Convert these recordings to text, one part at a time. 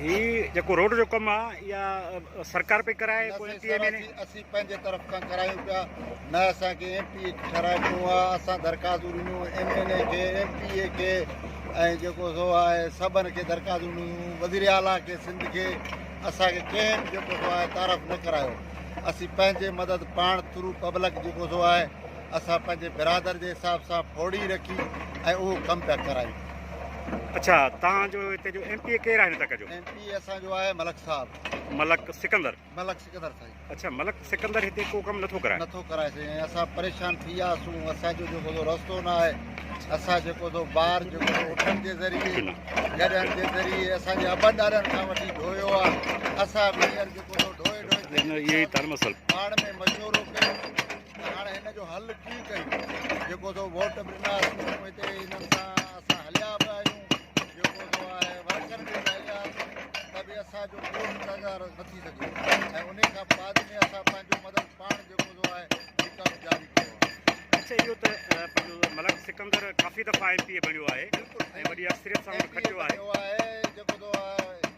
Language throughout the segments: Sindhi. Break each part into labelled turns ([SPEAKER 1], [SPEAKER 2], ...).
[SPEAKER 1] هي جيڪو روڊ جو ڪم آهي اها سرڪار پئي ڪرائي نه سائين صاحب ايم اين اي اسين اسين پنهنجي طرف
[SPEAKER 2] کان ڪرايون پيا نه اسان کي ايم پي اي ٺهرائي ڏنو آهي اسان درخواستون ڏنيون ايم اين اي کي ايم پي اي کي ۽ جيڪو سو آهي سڀن کي درخواستون ڏنيون وزير اعليٰ کي سنڌ کي اسان کي ڪنهن به جيڪو سو آهي تعارف نه ڪرايو اسين پنهنجي مدد پاڻ ٿرو پبلڪ جيڪو سو آهي اسان پنهنجي برادر جي حساب سان ڦوڙي رکي ۽ اهو ڪم پيا ڪرايون. اڇا
[SPEAKER 1] توهان جو هتي جو ايم پي اي ڪير آهن هتان جو؟ ايم پي اي اسان جو آهي
[SPEAKER 2] ملڪ صاحب. ملڪ سڪندر.
[SPEAKER 1] ملڪ سڪندر سائين.
[SPEAKER 2] اڇا ملڪ سڪندر
[SPEAKER 1] هتي ڪو ڪم نٿو ڪرائي. نٿو ڪرائي سائين ۽ اسان
[SPEAKER 2] پريشان ٿي ويا سون اسان جو جيڪو سو رستو نه آهي اسان جيڪو سو ٻار جيڪو سو اٺن جي ذريعي گڏهن جي ذريعي اسان جي ابن ڏاڏن کان وٺي ڍويو آهي اسان به هينئر جيڪو سو ڍوئي ڍوئي ڪري
[SPEAKER 1] پاڙ ۾ مشورو
[SPEAKER 2] ڪيو ته هاڻ هن جو حل ڪيئن ڪيون جيڪو سو ووٽ به ڏنا اسين هتي هنن سان اسان هليا به آهيون جيڪو سو آهي ورڪر به هليا ته به اسان جو ڪو انتظار نه ٿي سگهيو ۽ ان کان بعد ۾ اسان پنهنجو مدد پاڻ جيڪو سو آهي هي ڪم جاري ڪيو آهي اچا اهو ته
[SPEAKER 1] پنهنجو ملڪ سڪندر ڪافي دفعا ايم پي اي بڻيو آهي ۽ وڏي اڪثريت سان کٽيو آهي جيڪو سو
[SPEAKER 2] آهي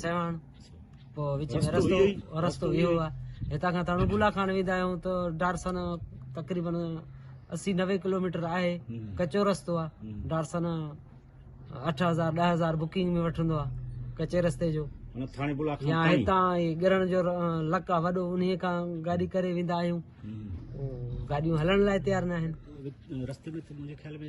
[SPEAKER 3] سيوهڻ پوء وچ ۾ رستو رستو اهو آهي هتان کان تاڻو بولا خان ويندا آهيون ته ڊارسن تقريبن اسي نوي ڪلوميٽر آهي ڪچو رستو آهي ڊارسن اٺ هزار ڏهه هزار بڪنگ ۾ وٺندو آهي ڪچي رستي جو يا هتان گرڻ جو لڪ آهي وڏو ان کان گاڏي ڪري ويندا آهيون گاڏيون هلڻ لاء تيار نه آهن رستي ۾
[SPEAKER 1] منهنجي خيال ۾